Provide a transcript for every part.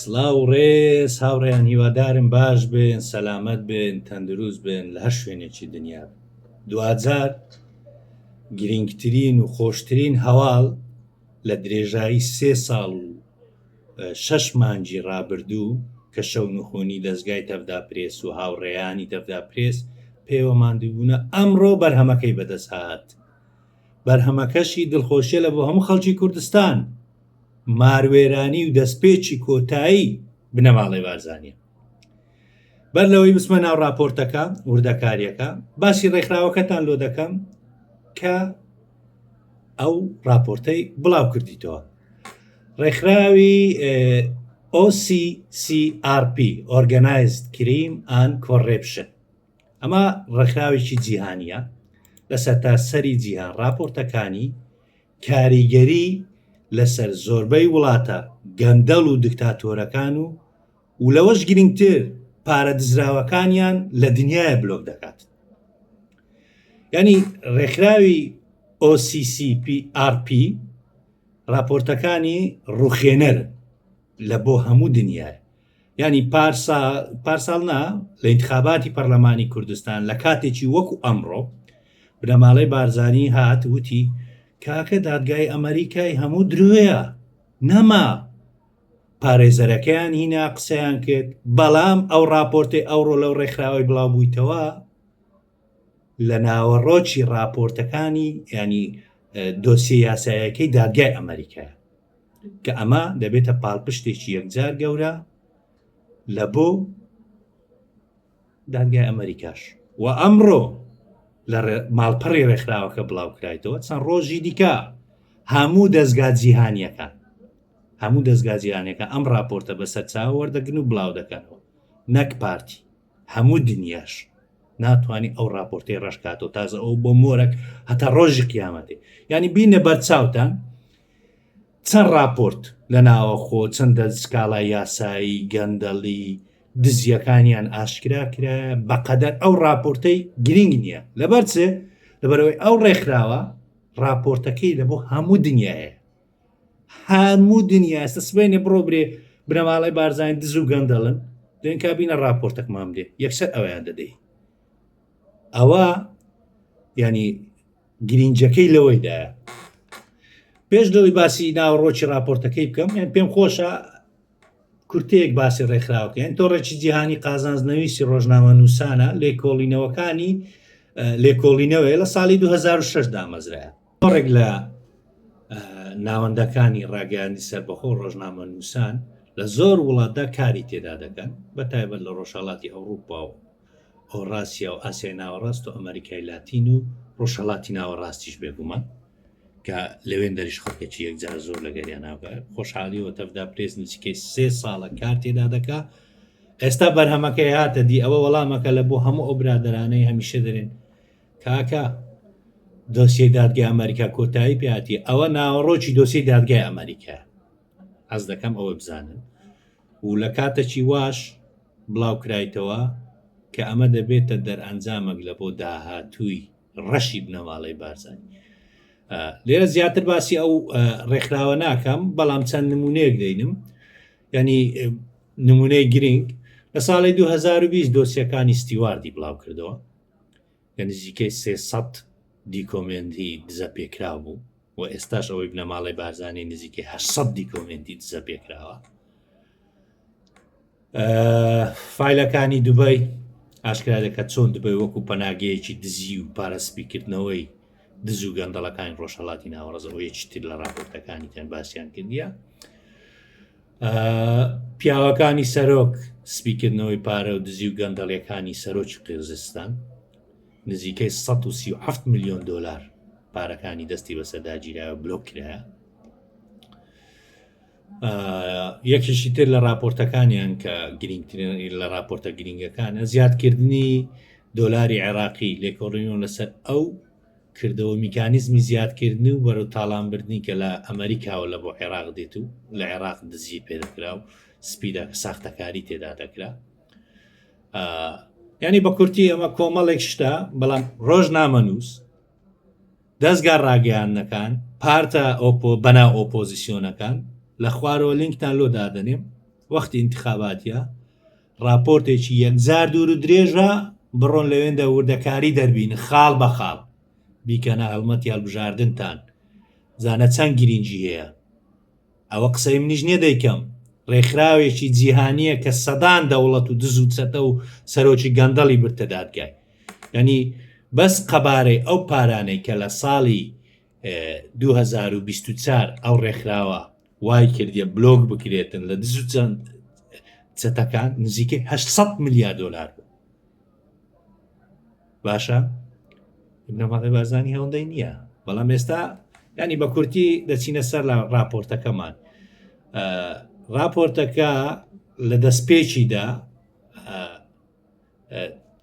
سلااو و ڕێز هاوڕێیان هیوادارم باش بن سەلامت بن تەندروست بن لە هەر شوێنێکی دنیا دوجار گرنگترین و خۆشترین هەواڵ لە درێژایی سێ ساڵ و شەش مانجی ڕابردوو کە شەو نخۆنی دەستگای تەفدا پرێس و هاوڕێیانی تەفدا پرێس پێوە مادووبوونە ئەمڕۆ بەرهەمەکەی بەدەست هاات بەرهەمەکەشی دڵخۆشیە لە بۆ هەموو خەڵکی کوردستان ماروێرانی و دەستپێکی کۆتایی بنەماڵەی بارزانیە بەر لەوەی بسمە ناو راپۆرتەکە وردەکاریەکە باسی ڕێکخراوەکەتان لۆ دەکەم کە ئەو راپۆرتەی بڵاو کردیتەوە ڕێکخراوی OCCRP Organized Crime and Corruption ئەمە ڕێکخراوێکی جیهانیە لە سەرتاسەری جیهان ڕاپۆرتەکانی کاریگەری لەسەر زۆربەی وڵاتە گەندەڵ و دکتاتۆرەکان و و لەوەش گرنگتر پارە دزراوەکانیان لە دنیاە بلۆک دەکات ینی ڕێکخراوی OCCPRP راپۆرتەکانی ڕوخێنەر لە بۆ هەموو دنیاە یانی پارسا پارساڵ نا لە انتخاباتی پەرلەمانی کوردستان لە کاتێکی وەکو ئەمڕۆ بنەماڵەی بارزانی هات وتی کاکە دادگای ئەمریکای هەموو درۆیە نەما پارێزەرەکەیان هینا قسەیان کرد بەڵام ئەو راپۆرتی ئەوڕۆ لەو ڕێکخراوەی بڵاو بوویتەوە لە ناوەڕۆکی ڕاپۆرتەکانی ینی دۆسیە یاسایەکەی دادگای ئەمریکا کە ئەمە دەبێتە پاڵپشتێکی یەکجار گەورە لە بۆ دادگای ئەمریکاش و ئەمڕۆ لە ماڵپەڕی ڕێکخراوەکە بڵاوکرایتەوە چەند ڕۆژی دیکە هەموو دەستگا جیهانیەکان هەموو دەستگا جیهانەکە ئەم راپۆرتە بەسەر چاوەوەردەگرن و بڵاو دەکەنەوە نەک پارتی هەموو دنیاش ناتوانانی ئەو راپۆرتی ڕشکاتەوە تازە ئەو بۆ مۆرەک هەتا ڕۆژی قیامەتێ ینی بینە بەرچاوتان چەند راپۆرت لە ناوەخۆ چەندە سکاڵای یاسایی گەندەڵی دزیەکانیان ئاشکرا کرا بەقەدەر ئەو راپۆرتەی گرنگ نییە لەبەرچێ لەبەرەوەی ئەو ڕێکخراوە راپۆرتەکەی لە بۆ هەموو دنیاە هەموو دنیا ئێستا سبێنێ بڕۆ برێ بنەماڵی بارزانانی دز و گەندەڵن دوێن کابینە راپۆرتەکمان بێ یەکسەر ئەویان دەدەی ئەوە ینی گرینجەکەی لەوەیدا پێش لەوەی باسی ناوڕۆکی راپۆرتەکەی بکەم یان پێم خۆشە کورتەیەک باسی ڕێکخراوکەن تۆڕێکی جیهانی قازانزنەویستی ڕۆژنامە نووسانە لێکۆڵینەوەکانی لێکۆڵینەوەی لە ساڵی 2006 دامەزرایە زۆرێک لە ناوەندەکانی ڕاگەیاندنی سەربەخۆ و ڕۆژنامەنووسان لە زۆر وڵاتدا کاری تێدا دەکەن بە تایبەت لە ڕۆژهەڵاتی ئەوروپا و هۆڕاسیا و ئاسیای ناوەڕاست و ئەمریکای لاتین و ڕۆژهەڵاتی ناوەڕاستیش بێگومان کە لەوێن دەریش خەڵکێکی یەکجار زۆر لەگەریان ناوگە خۆشحالیەوە تەفدا پرێس نزیکەی سێ ساڵە کار تێدا دەکا ئێستا بەرهەمەکەی هاتە دی ئەوە وەڵامەکە لە بۆ هەموو ئەو برادرانەی هەمیشە دەرێن کاکە دۆسیەی دادگای ئەمریکا کۆتایی پێاتی ئەوە ناوەڕۆکی دۆسیی دادگای ئەمریکا ئەز دەکەم ئەوە بزانن و لە کاتەکی واش بڵاو کرایتەوە کە ئەمە دەبێتە دەرئەنجامەک لە بۆ داهاتووی ڕەشی بنەماڵەی بارزانانی لێرە زیاتر باسی ئەو ڕێکخراوە ناکەم بەڵام چەند نمونەیەک دەینم ینی نمونەی گرنگ لە ساڵی 2020 دۆسیەکانی ستیواردی بڵاو کردەوە لە نزیکەی سێ سەد دیکۆمێنتی دزەپێکراو بوو و ئێستاش ئەوەی بنەماڵەی بارزانی نزیکەی هە سەد دیکۆمێنتی دزەپێکراوە فیلەکانی دوبای ئاشکرا دەکات چۆن دبێ وەکو پەناگەیەکی دزی و پارەسپیکردنەوەی دز و گەندەڵەکانی ڕۆژهڵاتی ناوەڕزەوە یەکی تر لە ڕاپۆرتەکانی تەن باسییان کردیە پیاوەکانی سەرۆک سپیکردنەوەی پارە و دزی و گەندەڵیەکانی سەرۆکی قیرزستان نزیکەی 1970 میلیۆن دلار پارەکانی دەستی بەسەرداگیرا و بلۆک کرایە یەکیشی تر لە راپۆرتەکانیان کە گرنگترین لە راپۆرتە گرنگەکانە زیادکردنی دۆلاری عێراقی لێکۆڕینەوە لەسەر ئەو کردەوە میکانیزمی زیادکردنی و بەرەو تاڵانبردنی کە لە ئەمریکاوە لە بۆ عێراق دێت و لە عێراق دزی پێدەکرا و سپیدا کە ساختەکاری تێدا دەکرا ینی بە کورتی ئەمە کۆمەڵێک شتە بەڵام ڕۆژ نامەنووس دەزگا ڕاگەیاندنەکان، پارتە ئۆپۆ بەناو ئۆپۆزیسیۆنەکان، لە خوارەوە لینکتان لۆ دادەنێم، وەختی ئینتخاباتیە، ڕاپۆرتێکی یەکجار دوور و درێژە، بڕۆن لەوێندە وردەکاری دەربینن خاڵ بە خاڵ، بیکەنە هەڵمەتی هەڵبژاردنتان، زانە چەند گرینگی هەیە. ئەوە قسەی منیش نیە دەیکەم. ڕێکخراوێکی جیهانیە کە سەدان دەوڵەت و دز و چەتە و سەرۆکی گەندەڵی برتە دادگای یعنی بەس قەبارەی ئەو پارانەی کە لە ساڵی 2024 ئەو ڕێکخراوە وای کردیە بلۆک بکرێتن لە دز و چەند چەتەکان نزیکەی 800 ملیار دلار بوو باشە بنەماڵەی بارزانانی هەوڵدەی نییە بەڵام ئێستا ینی بە کورتی دەچینە سەر لە راپۆرتەکەمان راپۆرتەکە لە دەستپێکیدا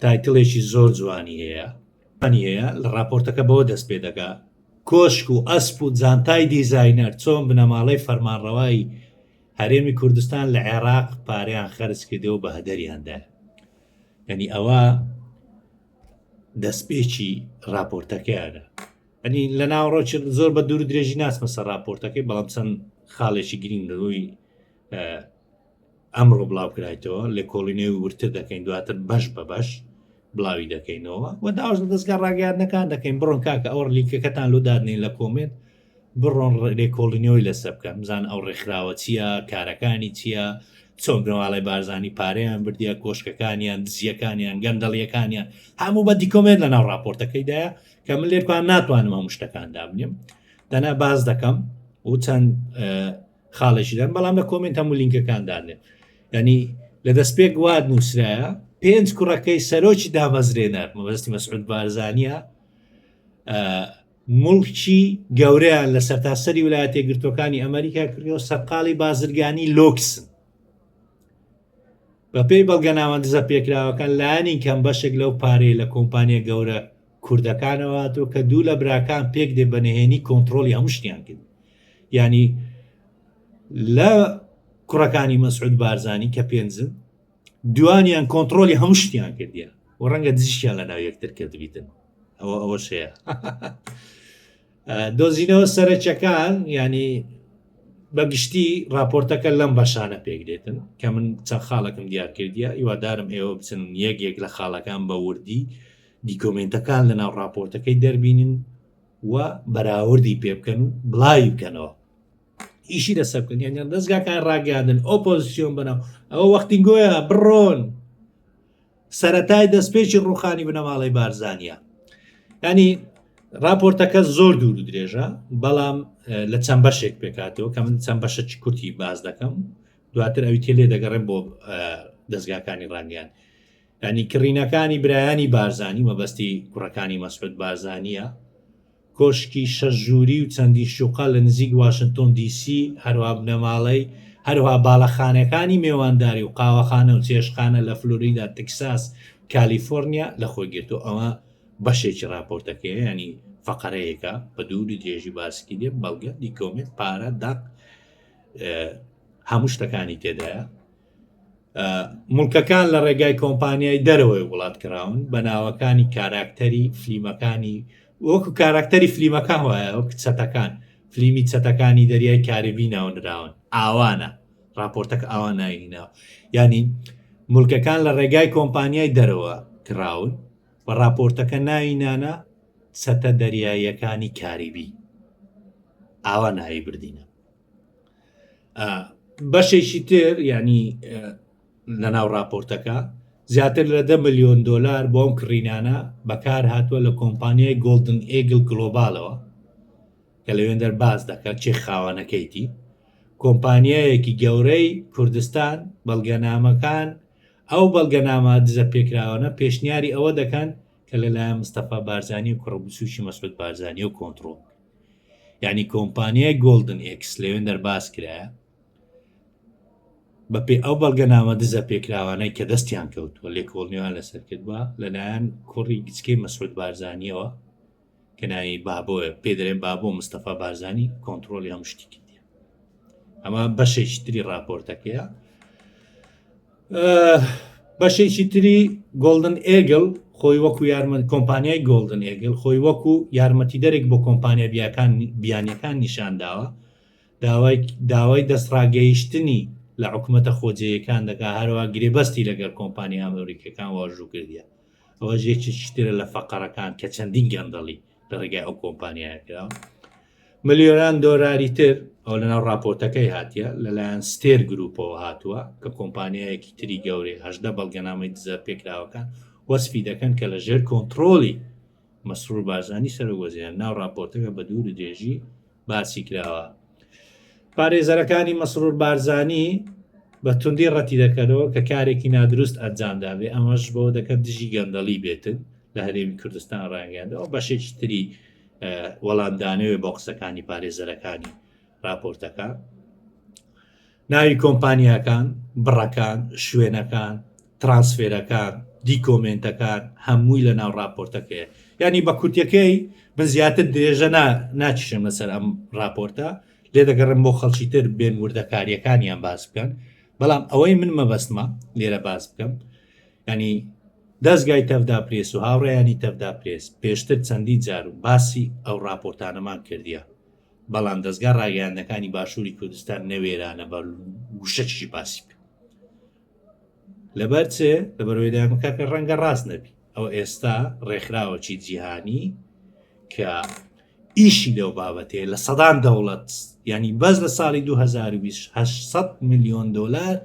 تایتلێکی زۆر جوانی هەیە پنی هەیە لە راپۆرتەکە بەوە دەست پێ دەگا کۆشک و ئەسپ و جانتای دیزینەر چۆن بنەماڵەی فەرمانڕەوایی هەرێمی کوردستان لە عێراق پارەیان خەرج کردەوە بە هەدەریاندا یعنی ئەوە دەستپێکی راپۆرتەکەیانە ئەنی لە ناوڕۆچ زۆر بە دوور درێژی ناسمە سەر راپۆرتەکەی بەڵام چەند خاڵێکی گرنگ لەوەی ئەمڕۆ بڵاوکرایتەوە لە کۆڵینەوەی ورتر دەکەین دواتر بەش بە بەش بڵاوی دەکەینەوە و داواش لە دەستگا ڕاگەاندنەکان دەکەین بڕۆن کاکە ئەوە لیکەکەتان لۆ دادنین لە کۆمێت بڕۆن لێکۆڵینەوەی لەسە بکەن بزان ئەو ڕێکخراوە چییە کارەکانی چییە چۆن گەواڵی بارزانانی پارەیان بردیە کۆشکەکانیان دزیەکانیان گەندەڵیەکانیان هەموو بە دیکۆمێت لە ناو راپۆرتەکەیدایە کە من لێکوان ناتوانم هەموو شتەکان دابنیم دەنا باز دەکەم و چەند خاڵێکی دەم بەڵام لە کۆمنت هەموو لینکەکان دانێت ینی لە دەست پێک واد نووسرایە پێنج کوڕەکەی سەرۆکی دامەزرێنەر مەبەستی مەسعود بارزانە مڵکی گەورەیان لە سەرتاسەری ویلایەتە گرتوەکانی ئەمریکا کردەوە سەرقاڵی بازرگانی لۆکسن بەپێی بەڵگەناوەندزە پێکراوەکان لایانی کەم بەشێک لەو پارەی لە کۆمپانیا گەورە کوردەکانەوە هاتوە کە دوو لە براکان پێک دێ بە نهێنی کۆنتترۆلی هەموو شتیان کرد ینی لە کوڕەکانی مەسعود بارزانانی کە پێنجن دوانیان کۆنتترۆلی هەموو شتیان کردیە و ڕەنگە دزیشیان لە ناو یەکتر کردبیتن ئەوە ئەوە شەیە دۆزینەوە سەرچەکان ینی بەگشتی راپۆرتەکە لەم بەشانە پێکدێتن کە من چەند خاڵەکەم دیارکردە هیوادارم ئێوە بچن یەک یەک لە خاڵەکان بە وردی دیکۆمێنتەکان لەناو ڕاپۆرتەکەی دەربینن و بەراوردی پێ بکەن و بڵاوی بکەنەوە ئیشی لەسەر بکەنیان دەستگاکان ڕاگەاندن ئۆپۆزیسیۆن بنەوە ئەوە وەختی گۆیان بڕۆن سەتای دەستپێکی ڕوخانی بنەماڵی بارزانە ینی راپۆرتەکە زۆر دوور و درێژە بەڵام لە چەند بەشێک پێکاتەوە کە من چەند بەشە کورتی باز دەکەم دواتر ئەوی تێ لێ دەگەڕێن بۆ دەستگاکانی ڕانیان یانی کڕینەکانی برایانی بارزانی مەبەستی کوڕەکانی مەسعود بارزانییە، کۆشکی شەش ژووری و چەندین شوقە لە نزیک واشنتۆن دی سی، هەروەها بنەماڵەی، هەروەها باڵەخانەکانی مێوانداری و قاوەخانە و چێشتخانە لە فلۆریدا، تکساس، کالیفۆرنیا لە خۆی گرتووە. ئەمە بەشێکی ڕاپۆرتەکەیە، یانی فەقەرەیەکە بە دووری درێژی باسکی دێ، بەڵگە، دیکۆمێنت، پارە، دەق، هەموو شتەکانی تێدایە. مڵکەکان لە ڕێگای کۆمپانیای دەرەوەی وڵات کراون بە ناوەکانی کاراکتەری فلیمەکانی وەکو کاراکتەری فلیمەکان وایە وەک چەتەکان فلیمی چەتەکانی دەریای کاربی ناونراون ئاوانە راپۆرتەک ئاوا ناینینا ینی ملکەکان لە ڕێگای کۆمپانیای دەرەوە کراون و راپۆرتەکە ناوینانە چەتە دەریاییەکانی کاریبی ئاوا ناوی بردینە بەشێکی تر ینی لە ناو راپۆرتەکە زیاتر لە دە میلیۆن دلار بۆم کڕینانە بەکار هاتووە لە کۆمپانیای گۆلدن ئێگل گلۆبالەوە کە لەوێن دەرباز دەکات چێ خاوانەکەیتی کۆمپانیایەکی گەورەی کوردستان بەڵگەنامەکان ئەو بەڵگەنامە دزە پێکراوانە پێشنیاری ئەوە دەکەن کە لەلایەن مستەفا بارزانانی و کوڕبسوشی مەسود بارزانانی و کۆنتترۆل یانی کۆمپانیای گۆلدن ئێکس لەوێن دەرباز کرایە بەپێ ئەو بەڵگەنامە دزە پێکراوانەی کە دەستیان کەوتووە لێکۆڵنیوان لەسەر کردووە لەلایەن کوڕی گچکەی مەسعود بارزانانیەوە کە ناوی بابۆە پێدرێن بابۆ مستەفا بارزانانی کۆنتترۆلی هەم شتی کردی ئەمە بەشێکتری راپۆرتەکەیە بەشێکی تری گۆلدن ئێگل خۆی وەکو یارمەند کۆمپانیای گۆلدن ئێگل خۆی وەکو یارمەتی دەرێک بۆ کۆمپانیا بیاکان بیانەکان نیشانداوە داوای داوای دەستڕاگەیشتنی لە حکوومەتە خۆجێیەکان دەکا هەروە گرێبەستی لەگەر کۆمپانیا ئەمریکەکان واژوو کردیە ئەوە ژێکی شتێرە لە فەقەرەکان کە چەندین گەندەڵی لە ڕێگای ئەو کۆمپانیایە کرا ملیۆران دۆراری تر ئەو لەناو راپۆرتەکەی هاتیە لەلایەن ستێر گروپەوە هاتووە کە کۆمپانیایەکی تری گەورەی هەشدە بەڵگەنامەی دزە پێکراوەکان وەسفی دەکەن کە لە ژێر کۆنتترۆلی مەسرور بارزانانی سەرۆک وەزیران ناو راپۆرتەکە بە دوور درێژی باسی کراوە پارێزەرەکانی مەسرور بارزانی بە توندی ڕەتی دەکەنەوە کە کارێکی نادروست ئەنجامدابێ ئەمەش بۆ دەکەن دژی گەندەڵی بێتن لە هەرێمی کوردستان ڕایگەندەوە بەشێکی تری وەڵامدانەوێ بۆ قسەکانی پارێزەرەکانی راپۆرتەکە ناوی کۆمپانیاکان، بڕەکان، شوێنەکان، ترانسفێرەکان، دیکۆمێنتەکان هەمووی لە ناو راپۆرتەکەیە ینی بە کورتەکەی من زیاتر درێژە ناچشم لەسەر ئەم راپۆرتە لێ دەگەڕم بۆ خەڵکی تر بێن وردەکاریەکانیان باس بکەن بەڵام ئەوەی من مەبەستمە لێرە باس بکەم ینی دەستگای تەفدا پرێس و هاوڕێیانی تەفدا پرێس پێشتر چەندی جار و باسی ئەو راپۆرتانەمان کردیە بەڵام دەزگا ڕاگەیاندنەکانی باشووری کوردستان نەوێرانە بە گوشەچی باسی بکە لەبەر چێ لە بەرەوەیدامەکەکە ڕەنگە ڕاست نەبی ئەو ئێستا ڕێکخراوەکی جیهانی کە ئیشی لەو بابەتەیە لە سەدان دەوڵەت ینی بەس لە ساڵی 2020 میلیۆن دلار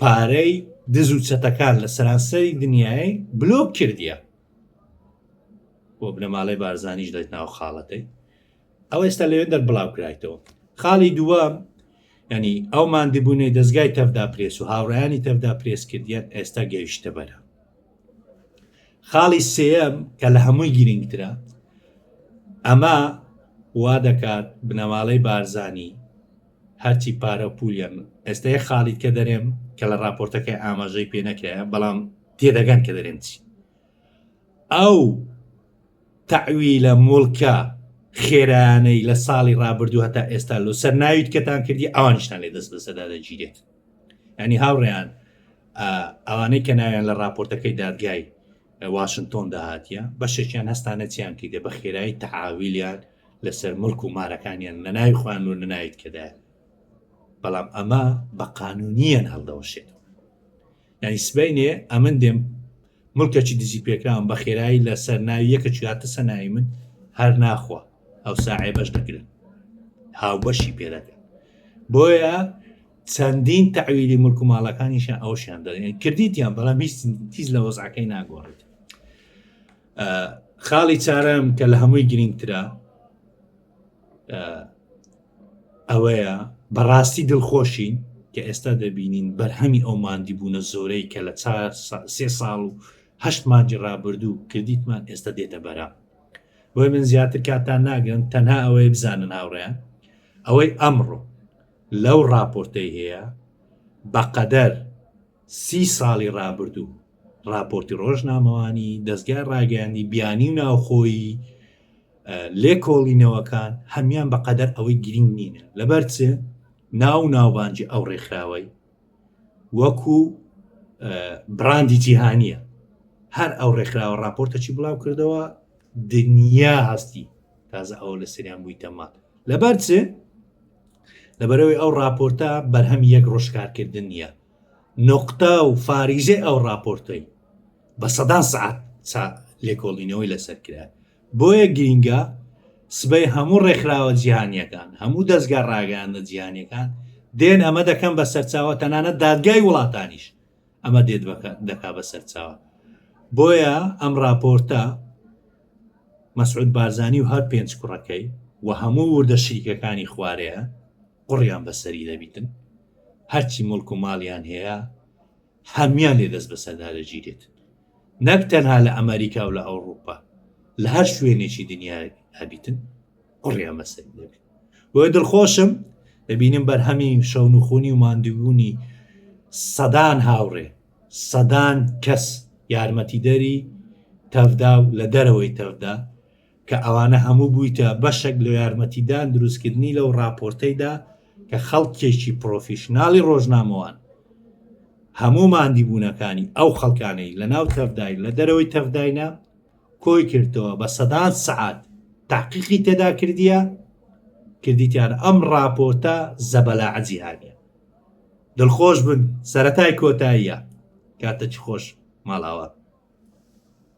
پارەی دز و چەتەکان لە سەرانسەری دنیای بلۆک کردیە بۆ بنەماڵەی بارزانیش دەێت ناو خاڵەکەی ئەوە ئێستا لەوێن دەر بڵاو کرایتەوە خاڵی دووەم ینی ئەو مادیبوونەی دەستگای تەفدا پرێس و هاوڕیانی تەفدا پرێس کردیان ئێستا گەیشتە بەرە خاڵی سم کە لە هەمووی گرنگترە ئەمە وا دەکات بنەماڵەی بارزانی هەرچی پارە و پولیان بن ئێستا یەک خاڵیت کە دەرێم کە لە راپۆرتەکەی ئاماژەی پێ نەکرایە بەڵام تێدەگەن کە دەرێم چی ئەو تەعویلە مڵکە خێرانەی لە ساڵی رابردوو هەتا ئێستا لۆ سەر ناویت کەتان کردی ئەوانشتان لێ دەست بەسەدا دەگیرێت ئەنی هاوڕێیان ئەوانەی کە ناویان لە راپۆرتەکەی دادگای واشنگتۆن داهاتە بەشێکیان هەستانە چیان کردێ بە خێرایی تەعاویلیان لەسەر مڵک و مارەکانیان لەناوی خۆیان و لەناوی تکەدایان بەڵام ئەمە بە قانونیان هەڵدەوەشێتەوە یعنی سبینێ ئەمن دێم ملکەچی دزی پێکراوم بە خێرایی لە سەر ناوی یەکە چاتە سەناوی من هەر ناخوا ئەو ساعێ بەش دەگرن هاوبەشی پێدەکە بۆیە چەندین تاویلی ملک و ماڵەکانیشە ئەوشیان دەێن کردیتیان بەڵام هیچ تیز لە وەزعەکەی ناگۆڕێت خاڵی چارەم کە لە هەمووی گرنگترە ئەوەیە بەڕاستی دڵخۆشین کە ئێستا دەبینین بەرهەمی ئەو مادی بوونە زۆرەی کە لە چار سێ ساڵ و هەشت مانجی ڕابردوو کردیتمان ئێستا دێتە بەرە بۆی من زیاتر کاتان ناگرن تەنها ئەوەی بزانن هاوڕێن ئەوەی ئەمڕۆ لەو ڕاپۆرتەی هەیە بەقەدەر سی ساڵی ڕابردوو، ڕاپۆرتی ڕۆژنامەوانی، دەزگای ڕاگەیاندی بیانی و ناوخۆیی، لێکۆڵینەوەکان هەمان بە قەدەر ئەوەی گرینگ نینە لەبەر چ ناو و ناوبانجی ئەو ڕێکخراوەی وەکو براندی جیهانیە هەر ئەو ڕێکخراوە ڕاپۆرتەچی بڵاو کردەوە دنیا هەستی تازە ئەوە لە سریان بووی تەما لەبەر چ لەبەرەوەی ئەو ڕاپۆرتە بەرهەم یەک ڕۆژکارکردن نیە نوقتە و فاریزەی ئەو ڕاپۆرتەی بە سەدان سعات لێکۆڵینەوەی لەسەر کرا بۆیە گرینگە سبەی هەموو ڕێکخراوە جیهانیەکان هەموو دەستگا ڕاگەیانە جیهانیەکان دێن ئەمە دەکەم بە سەرچاوە تەنانە دادگای وڵاتانیش ئەمە دێت دەکا بە سەرچاوە بۆیە ئەم راپۆرتە مەسعود بارزانانی و هەر پێنج کوڕەکەی و هەموو وردە شریکەکانی خوارەیە قوڕیان بەسەری دەبیتن هەرچی موڵک و ماڵیان هەیە هەموان لێ دەست بەسەردا دەگیرێت نەک تەنها لە ئەمریکا و لە ئەوروپا لە هەر شوێنێکی دنیا هەبیتن قڕیان مەسەر دەبێت بۆ دڵخۆشم دەبینم بەرهەمی شەون و خۆنی و ماندوونی سەدان هاوڕێ سەدان کەس یارمەتیدەری تەفدا و لە دەرەوەی تەفدا کە ئەوانە هەموو بوویتە بەشەک لە یارمەتیدان دروستکردنی لەو ڕاپۆرتەیدا کە خەڵکێکی پرۆفیشناڵی ڕۆژنامەوان هەموو ماندیبوونەکانی ئەو خەڵکانەی لە ناو تەفداین لە دەرەوەی تەفداینە کۆی کردەوە بە سەدان سعات تاقیقی تێدا کردیە کردیتیان ئەم ڕاپۆرتە زەبەلا عجیهانە دڵخۆش بن سەتای کۆتاییە کاتە چ خۆش ماڵاوە